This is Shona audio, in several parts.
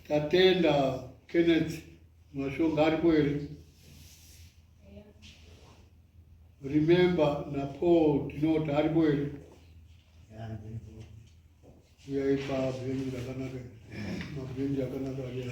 Tatenda Kenneth mashonga aripo here? Remember na Paul tinoti aripo here? Uya ipa bhenji rakanaka mabhenji akanaka ariya.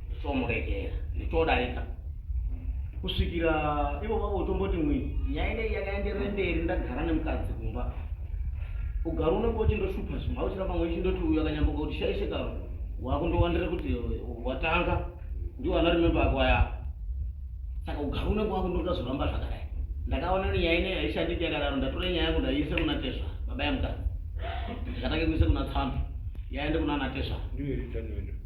ndichomuregera ndichodarika kusvikira ivo vavo utomboti mwi nyaya inei yakaenderere mberi ndagara nemukadzi kumba ugari unenge uchindoshupa zvimwe auchiramba mwe chindoti uyu akanyamboka kuti shaishe karo wakundowandira kuti watanga ndiwo ana rimembe ako aya saka ugari unenge wakundoda zvoramba zvakadai ndakaona ni nyaya inei haishandiki yakadaro ndatora nyaya yangu ndaiise kuna tezva baba yamukadzi ndikatake kuise kuna tsambi yaende kuna ana tezva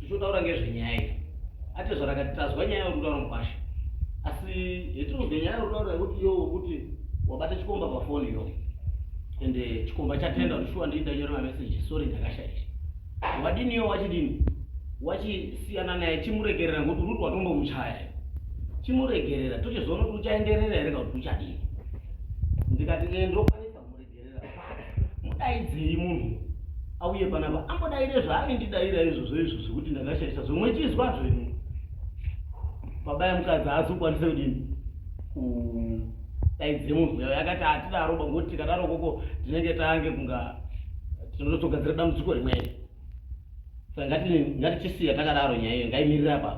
tichotaura ngezvenyaya iyi ati zvarakati tazwa nyaya uri kutaura mukwasha asi hetinozwa nyaya uri kutaura yekuti iyo wekuti wabata chikomba pafoni iyo ende eh, chikomba chatenda kuti shuwa ndii ndanyora mameseji sori ndakashaisha wadini iyo wachidini wachisiyana naye chimuregerera ngokuti uri kuti watombomuchaya chimuregerera tochizoona kuti uchaenderera here kauti uchadini ndikati ee eh, ndokwa mudaidzei munhu auye panapa ambodaire zvaaindidaira izvozvo izvo zvekuti ndakashaisa zvomwe chizwa zvenyu baba yamukadzi haazokwanise kudini kudaidze munhu yayo yakati hatidaro bangoti tikadaro koko tinenge tange kunga tinototogadzira dambudziko rimweni sa ngatichisiya takadaro nyaya iyo ngaimirira apa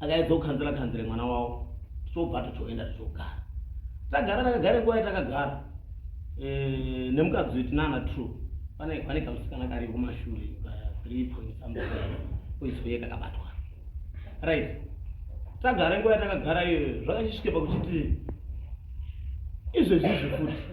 akaedza kukanzira kanzire mwana wavo tichobva tichoenda tichogara tagara takagara nguva yatakagara eh, nemukadzi weti nana true pane pane kamusikana kari kumashure three point something koisoye kakabatwa right tagara nguva yatakagara iyoyo zvakachisvike pakuchiti izvezvizvi futi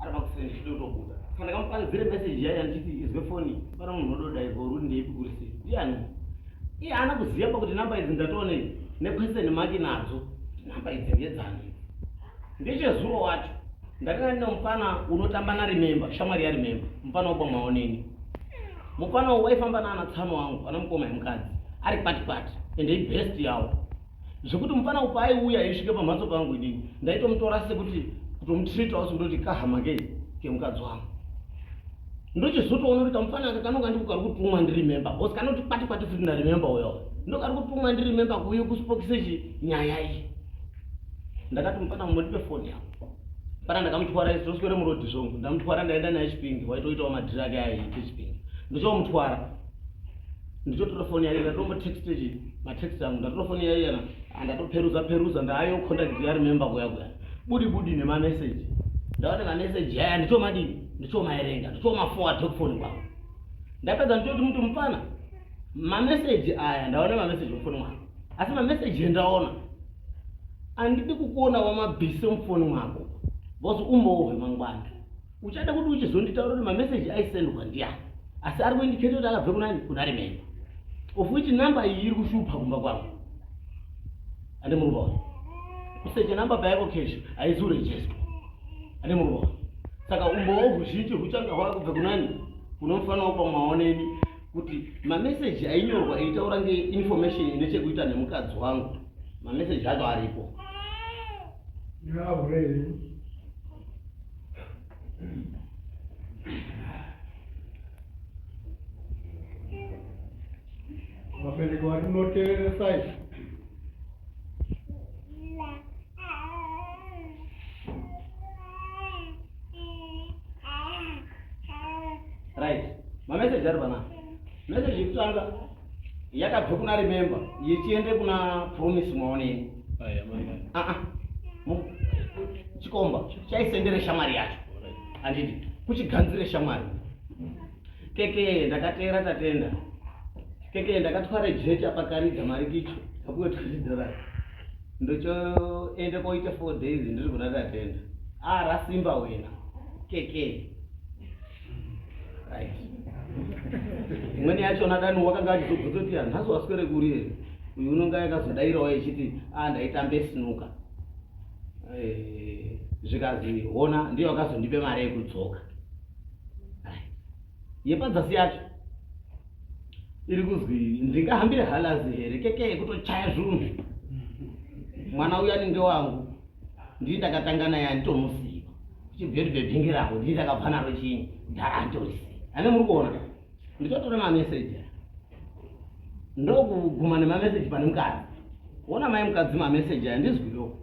aramba kuseni ndichida kutobuda saka ndakamupanzire message yaiya ndichiti izwe foni pana munhu ododairwa uri kuti ndeipi kuri sei ndiani iye haana kuziva pa kuti namba idzi ndatoone nequestion maki nadzo kuti namba idzi ngedzani ndechezuro wacho ndakanga ndine mupfana unotamba narimemba shamwari yarimemba mupfana wobwamaoneni mupfana uyu waifamba naana tsano wangu ana mukoma yemukadzi ari kwati kwati ende ibest yawo zvekuti mufana uyu paaiuya eisvika pamhatso pangu idini ndaitomutora sekuti kutomutreatawo sekuti kuti kahama kei kemukadzi wangu ndochizotoona kuti kamufana aka kanonga ndiko kari kutumwa ndiremember bcause kanoti kwati kwati futi ndaremember uyo ndo kari kutumwa ndiremember kuuye kuspokise chi nyaya iyi ndakati mufana mumodipe foni yavo pana ndakamutwara isi toswere murodi zvongu ndamutwara ndaenda naye chipingi waitoitawo madhiri ake aaiite chipingi ndochomutwara ndichotora foni yaiya ndombotext matext angu ndatora foni yaiya andatoperuza peruza ndaayo contact ya remember kuya kuya budi budi nemameseji ndaona mameseji aya ndichomadii ndichomaerenga ndichomafowa tokufoni kwangu ndapedza ndichoti muti mupfana mameseji aya ndaona mameseji mufoni mwako asi mameseji endaona andidi kukuona wamabhise mufoni mwako bcause umbowo hwemangwana uchada kuti uchizonditaura kuti mameseji aisendwa ndiyani asi ari kuindiketa kuti akabve kunani kuna rememba of which namba iyi iri kushupa kumba kwangu ane muruvaona kusecha namba payako kesho haizi urejestwa ane muruvaona saka umbowo huzhinji huchanga hwava kubve kunani kunomufanira kupa maoneni kuti mameseji ainyorwa eitaura ngeinformation ine chekuita nemukadzi wangu mameseji acho aripo Yeah, really. vabereki vari munoteereresai right mameseji ari pana meseji yekutanga yakabve kuna remember yechiende kuna promise maoneni ah, ah. chikomba chaisendere shamwari yacho andidi kuchiganzire shamwari keke ndakateera tatenda keke ndakatware jecha pakaridza mari kicho kakuwe tuzidora ndochoende koite four days ndiri kuna tatenda arasimba ah, wena keke imweni yacho nadani wakanga achizobvunza kuti hanhazi waswere kuri here uyu unonga yakazodairawo yechiti a ah, ndaitambe sinuka eh, zvikazi hona ndiyo akazondipe mari yekudzoka yepadzasi yacho iri kuzwi ndingahambire halazi here keke kutochaya zvunhu mwana uyu anenge wangu ndini ndakatanga naye anditomusiva chibveri bhebhingi rangu ndini ndakabva naro chii dhara anditorisiva ane muri kuona nditotora mameseji ndokuguma nemameseji pane mukadzi ona mai mukadzi mameseji aya ndizwiwo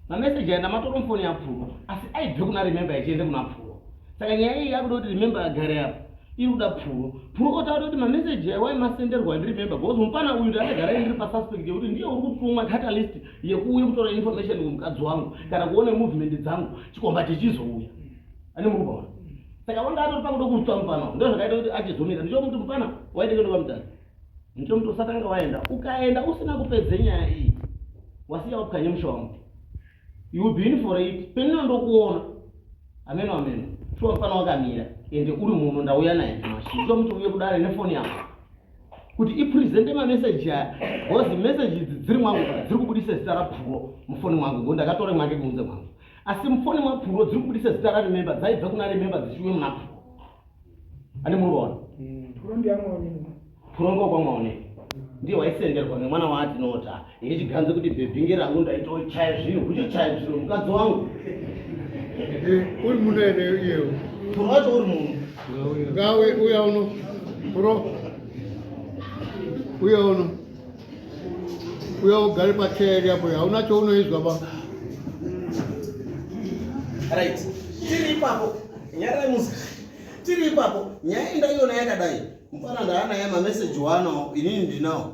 mameseji aya ndamatora mufoni yapfuwa asi aibve kuna remembe achiende kuna pfuwa saka nyaya iyi yakuda kuti remembe agare apo iri kuda pfuwo pfuwo otaura kuti mameseji aya waimasenderwa ndirimembe bcause mupana uyu ndaagara ndiri pasuspect yekuti ndiye uri kutumwa catalyst yekuuya kutora information kumukadzi wangu kana kuona movement dzangu chikomba chichizouya ane mukubaona saka vanga atori pakuda kutswa mupana ndo zvakaita kuti achizomira ndichomuti mupana waitenge ndoba mutani ndichomuti usatanga waenda ukaenda usina kupedze nyaya iyi wasiya wapukanye musha wangu you will be in for it penino ndokuona ameno ameno shuwa mupana wakamira ende uri muno ndauya naye nyamashe ndichomuti uye kudare nefoni yangu kuti ipresente mameseji aya bcause meseji idzi dziri mwangu ka dziri kubudisa zita rapuro mufoni mwangu ngo ndakatore mwake kunze mwangu asi mufoni mwapuro dziri kubudisa zita rarememba dzaibva kuna rememba dzichiwe muna puro ane muroona puro ndiyamwaonei puro ngokwamwaonei ndiye waisenderwa nemwana waatinoota Ini chiganze kuti bhebhinge rangu ndaitochaya zvinhu kuchochaya zviro mukadzi wangu. Eh, uri muno ere iyewo? Toro wacho uri muno. Ngawe uya uno. Toro. Uya uno. Uya ugare pacheya iri apo hauna chounoizwa ba. Right. Tiri ipapo. Nyara musa. Tiri ipapo. Nyaya ndaiona yakadai. Mfana ndaana yama message wano inini ndinawo.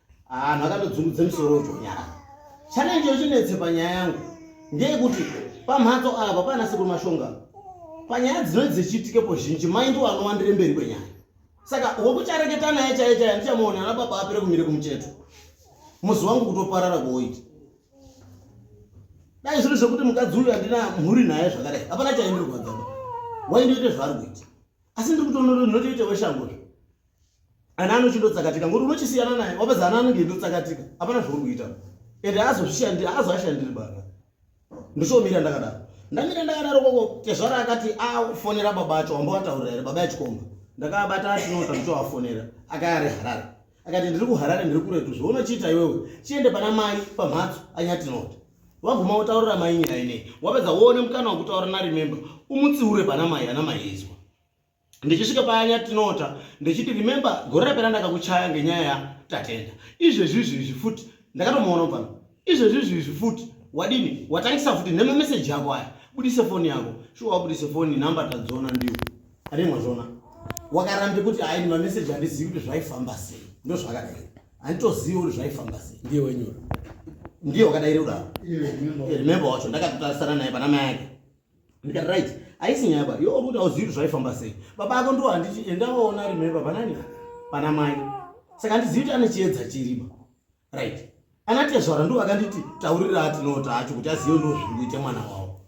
anhu akatodzungudza misoro uchonyara chana icho chinetse panyaya yangu ndeyekuti pamhatso apa pana sekuru mashonga panyaya dzinoi dzichiitikepo zhinji mai ndiwo anowandire mberi kwenyaya saka wekuchareketa naye chaiye chaiye andichamuona ana baba apere kumire kumucheto muzi wangu kutoparara kuoita dai zviri zvekuti mukadzi uyu andina mhuri naye zvakadai hapana chaindirwadzaa waindoite zvaari kuita asi ndiri kutononotoite weshango zve ana anochindotsakatika ngokuti unochisiyana naye wapedza ana anenge indotsakatika hapana zvauri kuita ende aazozvishandiri aazoashandiri baba ndichomira ndakadaro ndamira ndakadaro koko tezvara akati afonera ah, baba acho wamba wataurira here baba yachikomba ndakabata atinota ndichoafonera akaya ari harare akati ndiri kuharare ndiri kuretu zvounochiita iwewe chiende pana mai pamhatso anyatinota waguma wotaurira mai nyaya inei wapedza woone mukana wokutaura naremembe umutsiure pana mai ana maiizwa ndichisvika paya yatinota ndichiti remember gore rapera ndakakuchaya ngenyaya yatatenda izvezvi izvezvi futi ndakatomuona pano izvezvi izvezvi futi wadini watangisa futi nemameseji ako aya budise foni yako shuwa wabudise foni namba tadziona ndiyo anemwa zvona wakarambe kuti hai nemameseji handizivi kuti zvaifamba sei ndozvakadai handitozivi kuti zvaifamba sei ndiye wenyora ndiye wakadaire kudaro remember wacho ndakatotarisana naye pana mai ake ndikati right haisi nyaya ba yo kuti auzivi kuti zvaifamba sei baba ako ndo handiti endaoona remember panani pana mai saka handizivi kuti ane chiedza chiriba right ana tezvara ndo vakanditi taurira atinota acho kuti azive ndo zviri kuita mwana wavo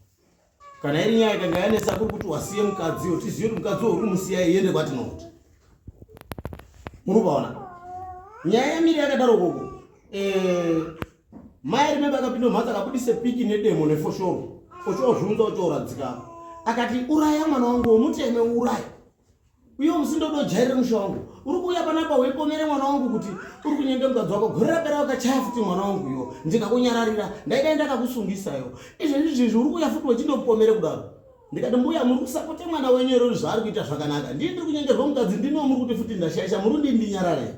kana iri nyaya ikanga yanetsa kuri kuti wasiye mukadziwo tizive kuti mukadzi wo uri musiya iende kwatinoti muri kuvaona nyaya yamiri yakadaro koko eh, Mai ari mimba akapinda mumhatso akabudisa piki nedemo nefoshoro ochoozviunza ochooradzika apa akati uraya mwana wangu womuteme uraya uye musindodojairire musha wangu uri kuuya panapa weipomere mwana wangu kuti uri kunyenge mukadzi wako gore rapera wakachaya futi mwana wangu iyo ndikakunyararira ndaidai ndakakusungisayo izvezvi zvezvi uri kuuya futi wechindopomere kudaro ndikati mbuya muri kusapote mwana wenyu ero zvaari kuita zvakanaka ndii ndiri kunyengerwa mukadzi ndinoo muri kuti futi ndashaisha muri kundindinyararei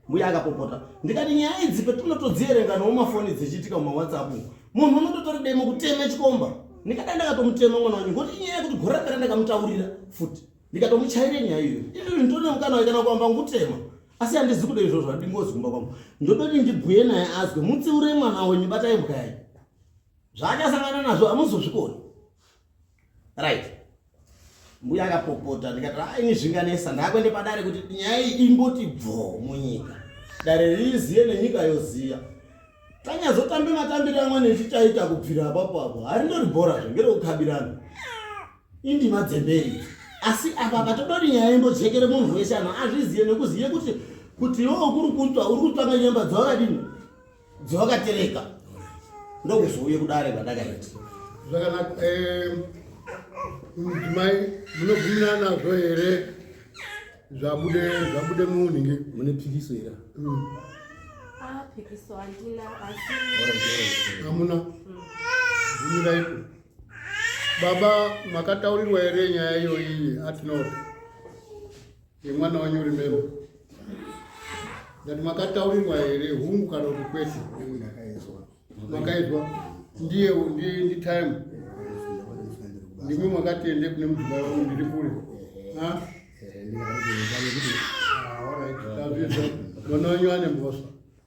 mbuya akapopota ndikati nyaya idzi petinotodzierenga nowo mafoni dzichiitika mumawhatsapp munhu unototori demo kuteme chikomba ndikada ndakatomutema mwana wanyu ngoti inyaya yekuti gore rakada ndakamutaurira futi ndikatomuchaire nyaya iyoyo izvozvi nditone mukana waikana kuamba ngutema asi handizi kuda izvozvo handingozi kumba kwangu ndodoti ndibhuye naye azwe mutsiure mwana wenyu batai mbwa yayi zvaakasangana nazvo hamuzozvikoni right mbuya akapopota ndikati a ah, ini zvinganesa ndakuende padare kuti nyaya iyi imboti bvo munyika dare riziye nenyika yoziya tanyazotambe matambiro amwene echichaita kubvira apapo apo harindoribhora zve ngerekukabirana indima dzemberi asi apa patodori nyaya imbojekere munhu wese anhu azviziye nekuziye kuti kuti iwo kuri kutswa uri kutsvanga nyemba dzawakadini dzevakatereka ndokuzouye kudare kwandakaita zvakanaka mudzimai munobvumirana nazvo here zvabude zvabude muunhingi mune pikiso here mm. ah, pikiso handina asi hamuna bvumiraiko mm. baba makataurirwa here nyaya iyoyi atinoti Yemwana wanyu uri memo. Ndati makataurirwa here hungu kana kuti kwete? Makaizwa. Ndiye ndiye ndi time. Ndimi makati ende kune mjomba wangu ndiri kule. Ha? Mwana wanyu ane mbosa.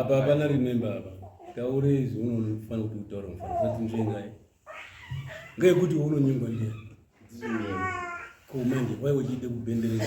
apa hapana remember apa taure izvi unofanira kuti utaura mufana usati nzvengai ngeyekuti unonyengwa ndiani ko manje waiwe chiite kubhenderera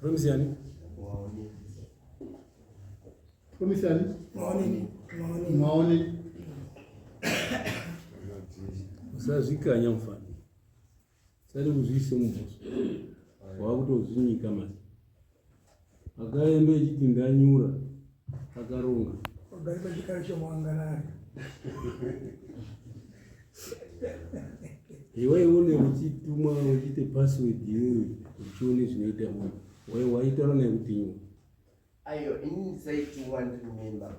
Promise yani? Waone. Promise yani? Waone. Waone. Waone. Usazvikanya mfana. Sari kuzviise mumhoso. Wakutozvinyika manje. Akaemba echiti ndanyura akaronga. Pagari pachikara chemuangarari. Iwe une uchitumwa uchiite password iwewe uchione zvinoita munhu. Wewe waitaura naye kuti nyura. Ayo ini ndisaitumwa ndiri mimba.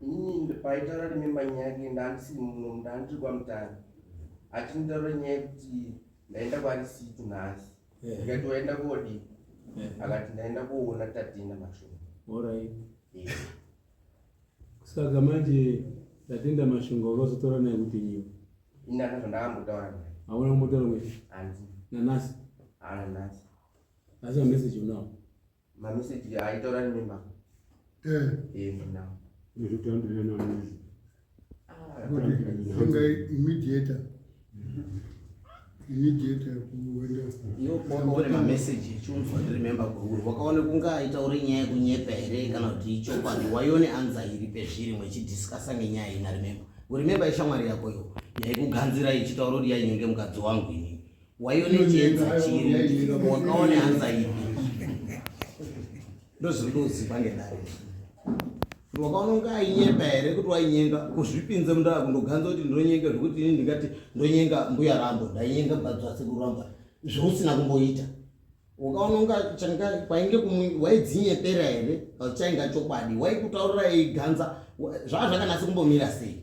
Ini paitaura nemimba nyaya yake ndandisi muno ndandiri kwamutani. Achinitaura nyaya yekuti ndaenda kwarisito nhasi. Eh. ndikati waenda koodii Eh. akati ndaenda koona tatinda mashongo Alright. Eh, Saka manje tatenda mashonga wakazotaura naye kuti nyiwa. ini ana zvandakambotaura naye Hauna kumbotaura kuti hanzi nanasi. haana nhasi Asi a message unawo. mameseji aitaura nemi ma eh. eh, mna ingai immediator immediator kuenda iwo kwaone mameseji echunzwa ndiremember kwauri wakaona kunge aitaure nyaya yekunyepa here kana kuti ichokwadi waione anza iri pezviri mwechidhiskasa ngenyaya ina remember uremember ishamwari yako yo yaikuganzira ichitaura kuti yainyenge mukadzi wangu inini waione chienzi chiri wakaone anxiety ndozvindoziva ngendaa kuti wakaona kunge ainyenga here kuti wainyenga kuzvipinze mundaa kundoganza kuti ndinonyenga zvekuti ini ndingati ndonyenga mbuya rambo ndainyenga badzwasekuru rambo zvousina kumboita wakaona kunga changa kwainge waidzinyeperera here chainga chokwadi waikutaurira iganza zvaa zvakanasi kumbomira sei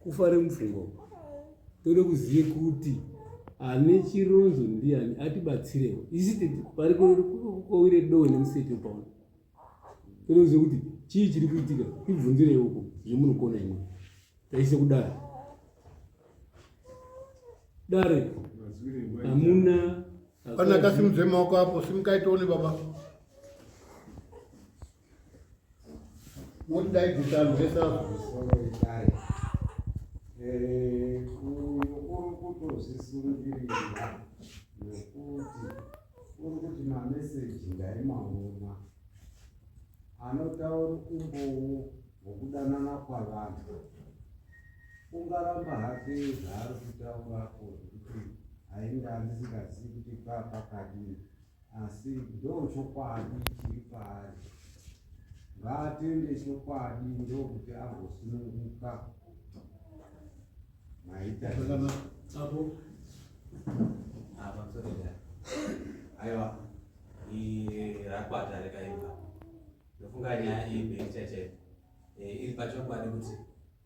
kufare mupfungwa uku tode kuzive kuti ane chironzo ndiani atibatsirewo isi pari kowire dowe nemuseti upaona tode kuzive kuti chii chiri kuitika tibvunzirei uko zvemunokona imwe taise kudare dare hamuna pana kasimudze maoko apo simukaitoone baba Moti dai gutano hesazvo. Eh, uri kutozvisungiririra nekuti uri kuti mameseji ndaimaona anotaura umbowo hwokudanana kwavanhu ungaramba hake zvaari kutaurako zvekuti ainge andisingazivi kuti paa pakadini asi ndochokwadi chiri paari ngaatende chokwadi ndokuti agosununguka maita aiwa rakwata rekaimba ndofunga nyaya iyi beichachete Eh, iri pachokwadi kuti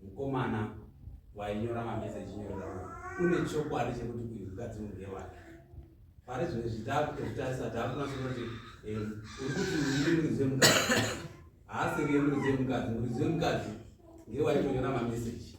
mukomana wainyora mameseji nyorera une chokwadi chekuti uyu mukadzi unge wake pari zvimwe zvitaakutozvitarisa taakunasa kuti eh, uri kuti uri muridzi wemukadzi haasenge muridzi wemukadzi muridzi wemukadzi ngewainyora mameseji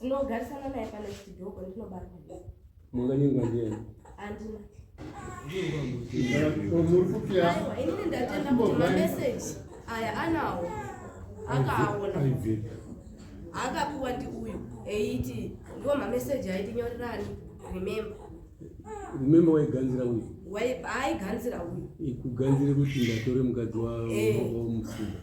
ndinogarisana naye pane chidoko ndinobarwa munganyengwa ndiani andina inini ndatenda kuti mameseji aya anawo akaaona akapiwa ndi uyu eiti ndiwo mameseji aiti nyorerani remember remember waiganzira uyu aiganzira uyu kuganzira kuti ndatore mukadzi wamufuda eh.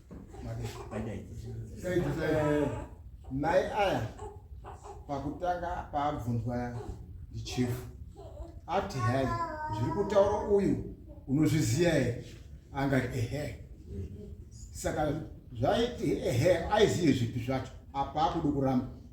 mai aya pakutanga paabvunzwa ndichifu ati hai zviri kutaura uyu unozviziva here angati ehe saka zvaiti ehe aizive zvipi zvacho apa akuda kuramba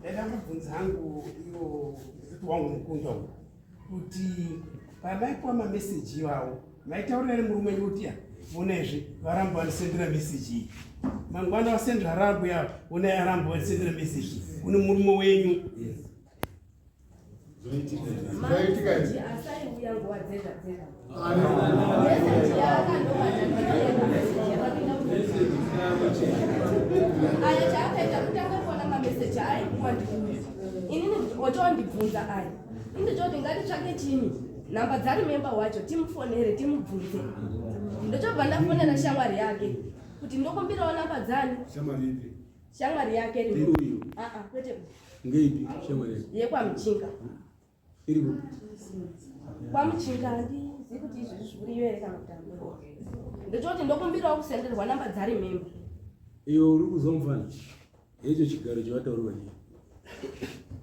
ndaida kubvunza hangu iwo kuti wangu mukunda uyu kuti pamaipiwa mameseji iwawo maitaurira ri murume yutiya vona izvi varamba vanisendera meseji iyi mangwana vasendera rambo yavo vona yaramba vanisendera meseji kune murume wenyu otondibvunza aya indi toti ngatitsvake chini nhamba dzari memba wacho timufonere timubvunze ndochobva ndafonera shamwari yake kuti ndokumbirawo namba dzani Shamwari yake iri uyu. Ah ah, kwete. Ngeipi shamwari yake? Yekwa Mchinga. Iri ku. Kwa Mchinga ndi zikuti izvi zviri iwe ere kana kutamba. Ndototi ndokumbirawo kusenderwa namba dzari mimba. Iyo uri kuzomfana. Hecho chigaro chavataurwa chii?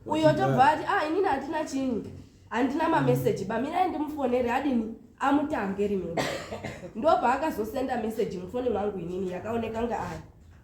Uyo tobva ati ah inini hatina chinyi. Handina mameseji bamirai ndimufonere adini amutange rimwe. Ndobva akazosenda meseji mufoni mwangu inini yakaoneka ngaari.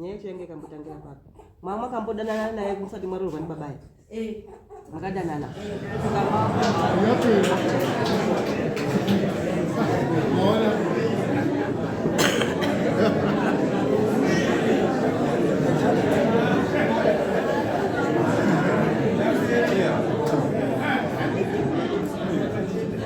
nyaya yacho yange ikambotangira papi mama makambodanana naye musati mwaroorwa ndibaba ye eh. makadanana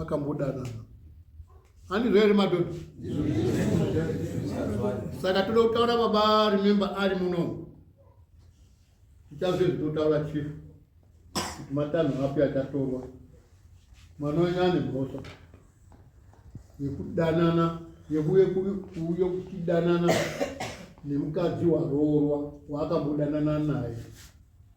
akambodanana handi zvaere madhodha saka toda kutaura baba remember ari muno tichazve zvitotaura chief kuti matanho api achatorwa mwana wenyu ane mhosva yekudanana yekuuye kuuye kuchidanana nemukadzi waroorwa waakambodanana naye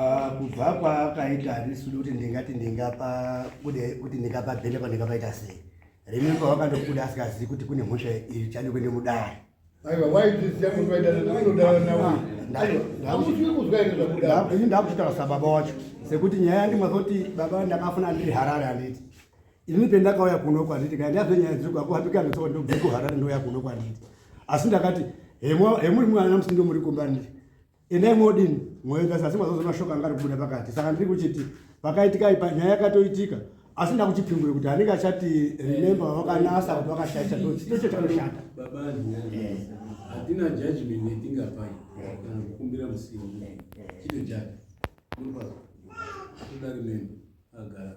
Ah, kubva kwaakaita handisi kuti ndingati ndingapa kuti ndingapa bhele kwandingapaita sei remember wakandokuda asingazivi kuti kune mhosva iri chani kuende mudare ini ndakuchitaura sababa wacho sekuti nyaya yandimazoti baba ndakafuna ndiri harare handiti ini pendakauya kuno kwanditi kai ndiazve nyaya dziri kwako hapika ndisoo ndobve kuharare ndouya kuno kwanditi asi ndakati hemuri mwana musi ndomuri kumba nditi Endai modini mwoyo kasi asi mwazozo mashoko anga ari kubuda pakati saka ndiri kuchiti pakaitika ipa nyaya yakatoitika asi ndakuchipingure kuti anenge achati remember vakanasa kuti vakashaisha ndocho chanoshata hatina judgment yatingapai kana kukumbira musiwo chito judge hatuda remember agara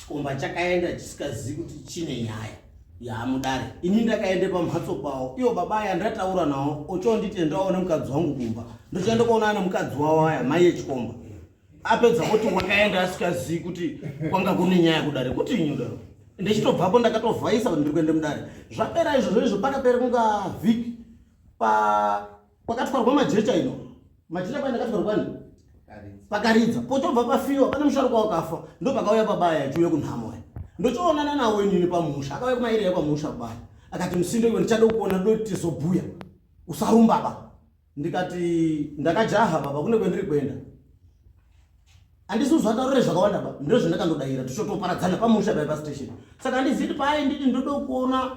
chikomba chakaenda chisikazivi kuti chine nyaya yaamudare ini ndakaenda pamhatso pavo ivo baba aya ndataura navo ochonditendawo nemukadzi wangu kumba ndochaenda kuonana nemukadzi wavo aya mai yechikomba apedza kuti wakaenda asikazivi kuti kwanga kune nyaya kudare kuti inyi kudaro ndichitobvapo ndakatovhaisa kuti ndiri kuenda mudare zvapera izvozvo izvo pakapera kunga vhiki pa kwakatwarwa majecha ino majecha kwaenda katwarwa kwani pakaridza potobva pafiwa pane musharukwa wakafa ndo pakauya pabaya achiuya kunhamo ya ndochoonana nawo inini pamusha akauya kumairira pamusha kubaya akati musindo iwe ndichada kuona do tizobhuya usarumba ba ndikati ndakajaha baba kune kwendiri kuenda andisi uzvataurire zvakawanda ba ndo zvandakandodaira tichotoparadzana pamusha baya pastation saka handiziti paai nditi ndoda kuona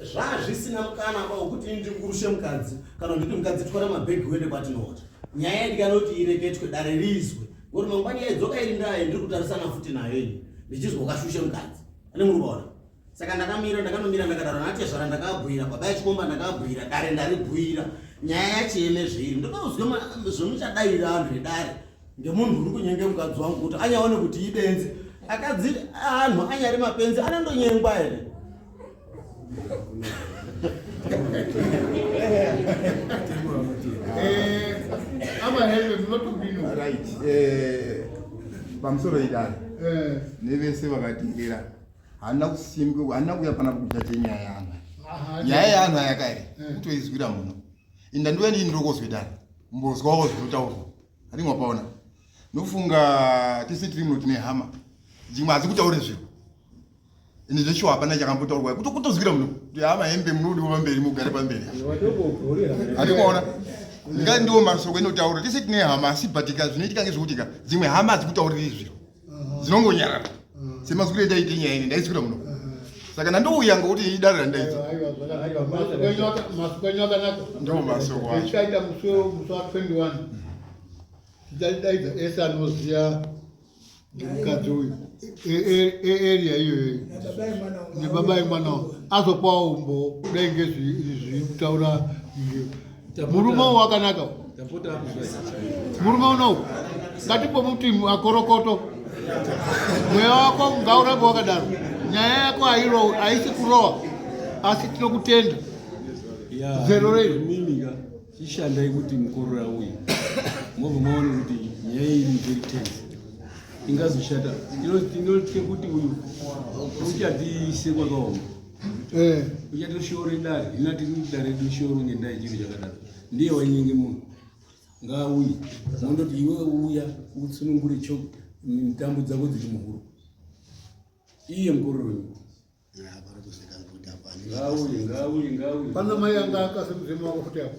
zvazvisina mukana apa wekuti ini ndikurushe mukadzi kana nditi mukadzi twara mabhegi uende kwatinoota nyaya yandikanoti ireketwe dare riizwe ngoti mangwani yaidzoka iri ndaye ndiri kutarisana futi nayo ini ndichizwa ukashushe mukadzi ane muri kuona saka ndakamira ndakanomira ndakadaro natezvara ndakabhuira baba yachikomba ndakabhuira dare ndaribhuira nyaya yacho yemezveiri ndokauzwa zvemuchadaira vanhu vedare ndemunhu uri kunyenge mukadzi wangu kuti anyaone kuti ibenzi akadzi anhu anyari mapenzi anondonyengwa here pamusoro idari nevese vakatiirira handina kusimbi handina kuya pana kukuta chenyaya yanhu nyaya yanhu ayaka here kutoizwira muno inda ndiwe nii ndiri kozwedani mbozwawo zvinotaurwa Anenge wapaona. Nofunga tese tiri muno tine hama. Dzimwe hazi kutaura zviro. Ini zveshuwa hapana chakambotaurwa. Kuto kutozwira muno. Kuti hama hembe munodi kuva mberi mugare pamberi. Anenge waona. Ngai ndiwo masoko inotaura. Tese tine hama asi batika zvinoitika ngezvekutika. Dzimwe hama hazi kutaurira zviro. dzinongonyarara semazukuru etaite nyaya ini ndaisukira muno saka ndandouya ngokuti idare randaiita ndomasoaita musi wa 21 tichaidaidza ese anoziva nemukadzi uyu earea iyoyo nebaba yemwana azopawo umbo kudai ngezviri kutaura murume uwo wakanaka murume unowu ngatimbomuti akorokoto mweya wako ngaurambe wakadaro nyaya yako hairowi haisi kurowa asi tinokutenda zero rei ishandai kuti mukorora uyu mobva maone kuti nyaya iyi very tense ingazoshata inotya kuti uyu uchadziise kwakaoma eh. uchatoshoore dare hina tiri kuti dare toshoro ngendaa yechiro chakadaro ndiye wainyenge munhu ngaauye mondoti iwe uya utsunungure cho mitambo dzako dziri muhuro iye mukororo wenyika ngaauye ngaauye ngaauye pana mai anga akasemuzemu wako futi apo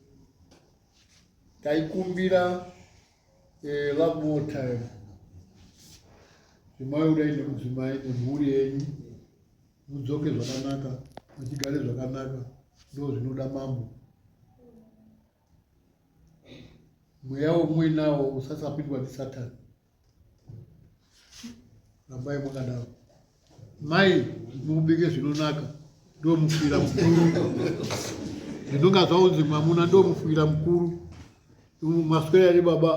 taikumbira eh, love more time zvemaudai nemudzimai nemhuri yenyu mudzoke zvakanaka muchigare zvakanaka ndo zvinoda mambo mweya womuinawo usasapindwa ndisatani rambai makadaro mai mukubike zvinonaka ndomufira mukuru ndinonga zvaunzi mwamuna ndomufira mukuru maswera ri baba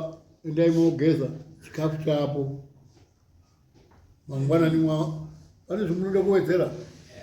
endai mogeza chikafu chapo mangwanani mwa pane zvimunoda kuwedzera eh,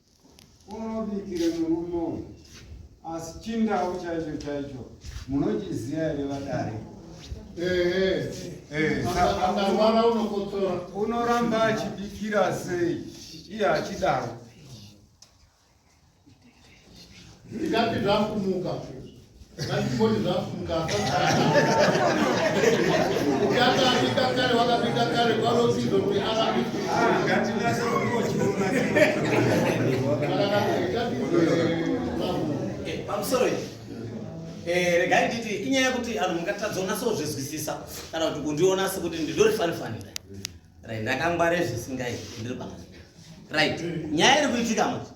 unobikire murume uyu asi chindawu chaicho chaicho munochiziva here vadare unoramba achibikira sei iye achidaro ndikati zvakumuka Eh, regai nditi inyaya yekuti anhu mungatadza unasa kuzvizwisisa kana kuti kundiona sekuti ndindori fanifanira right ndakangware zvisingai ndiri paa right nyaya iri kuitika mati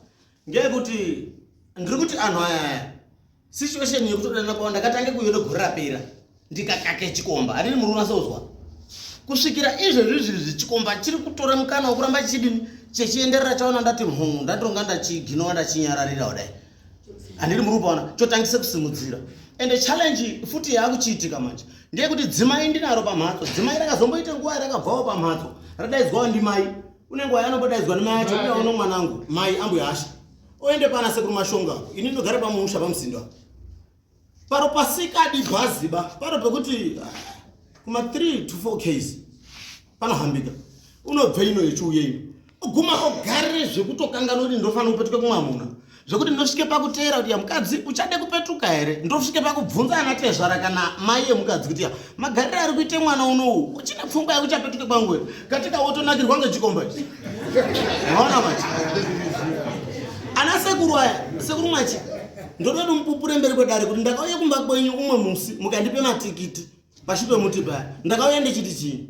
ngeyekuti ndiri kuti anhu aya situation yekutodanana kwavo ndakatange kuyona gore rapera ndikakake chikomba handini murume asauzwa kusvikira izvezvi zviri zvechikomba chiri kutora mukana wekuramba chidini chechienderera chaona ndati mhungu ndatonga ndachiginova ndachinyararira kudai handiri muri kupaona chotangisa kusimudzira and challenge futi yaakuchiitika manje ndeyekuti dzimai ndinaro pamhatso dzimai rakazomboita nguva rakabvawo pamhatso radaidzwawo ndimai une nguva yanombodaidzwa nemai acho uya uno mwanangu mai ambuya asha oende pana sekuru mashonga ini ndinogara pamusha pamuzinda paro pasikadi bhaziba paro pekuti ah, kuma 3 to 4 ks panohambika unobve ino yechiuye ino oguma ogare zvekutokanganoti ndofanira kupetuka kumwamuna zvekuti ndosvike pakuteera kuti ya mukadzi uchade kupetuka here ndosvike pakubvunza ana tezvara kana mai yemukadzi kuti ya magariro ari kuite mwana unowu uchine pfungwa yekuchapetuke kwangu here katika wotonakirwa ngechikomba ichi maona machi ana sekuru aya sekuru machi ndoda kuti mupupure mberi kwedare kuti ndakauya kumba kwenyu umwe musi mukandipe matikiti pashure pemuti paya ndakauya ndichiti chii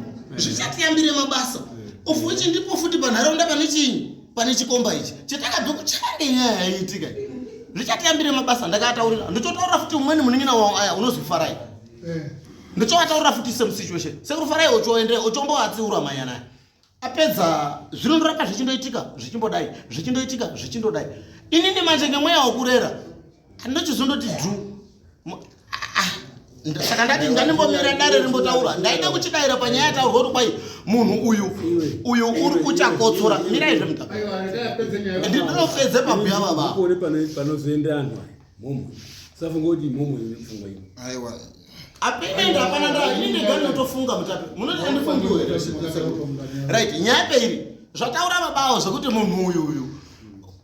zvichatiyambire mabasa of which ndipo futi panharaunda pane chinyi pane chikomba ichi chatakabve kuchande nyaya yaiitika zvichatiyambire mabasa ndakataurira ndichotaurira futi umweni munin'ina wavo aya unozwi farai eh. ndichowataurira futi same situation sekuru farai ochoende ochomboatsiura manyana apedza zvinondoramba zvichindoitika zvichimbodai zvichindoitika zvichindodai inini manje ngemweya wokurera ndochizondoti dhu saka ndati ndandimbomira dare rimbotaura ndaida kuchidaira panyaya yataurwa kuti kwai munhu uyu uyu uri kuchakotsora mirai zve muta ndinopedze pabhuya vavaa panozoenda anhu mumwe safunga kuti mumwe pfungwa ino apena ende hapana ndaa ini ndega ndinotofunga mutape munoti andifungiwe right nyaya peiri zvataura vabawo zvekuti munhu uyu uyu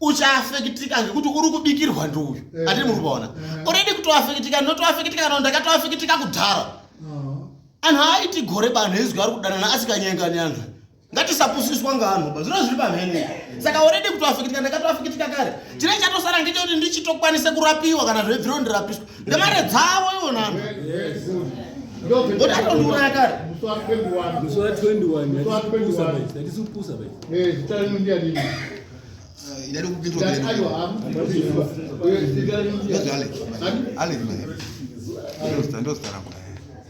uchaafekitika ngekuti uri kubikirwa ndiuyu eh. ati muri kuona eh. oredi kutoafekitika ndinotoafekitika kana ndakatoafekitika kudhara ah. anhu aaiti gore banhu ezwi ari kudanana asikanyengani anhu ngatisapusiswa ngaanhu ba zviro zviri pamhene saka already kuti wafikitika ndakatowafikitika kare chine chatosara ngechekuti ndichitokwanise kurapiwa kana zvebviro ndirapiswa nemare dzavo ivo nano otatondiuraya kare ndadikupindwa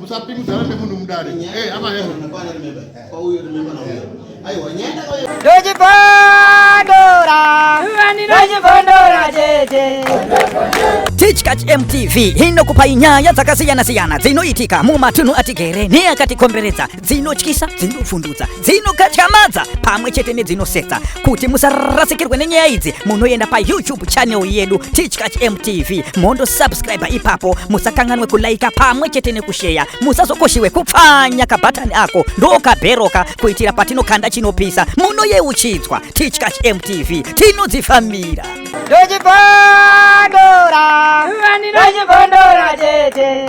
Musapingudzana nemunhu mudare. Eh, hama hema. Tichkach MTV inokupai nyaya dzakasiyana-siyana dzinoitika mumatunhu atigere neakatikomberedza. dzinotyisa dzinopfundutsa dzinokatyamadza pamwe chete nedzinosetsa kuti musarasikirwe nenyaya idzi munoenda payoutube channel yedu tichkach mtv mondo subscribe ipapo musakanganwe kulaika pamwe chete nekusheya musazokoshiwe kupfanya kabhatani ako ndokabheroka kuitira patinokanda chinopisa munoyeuchidzwa tichkach mtv tinodzifambira ndochipondora ndochipondora chete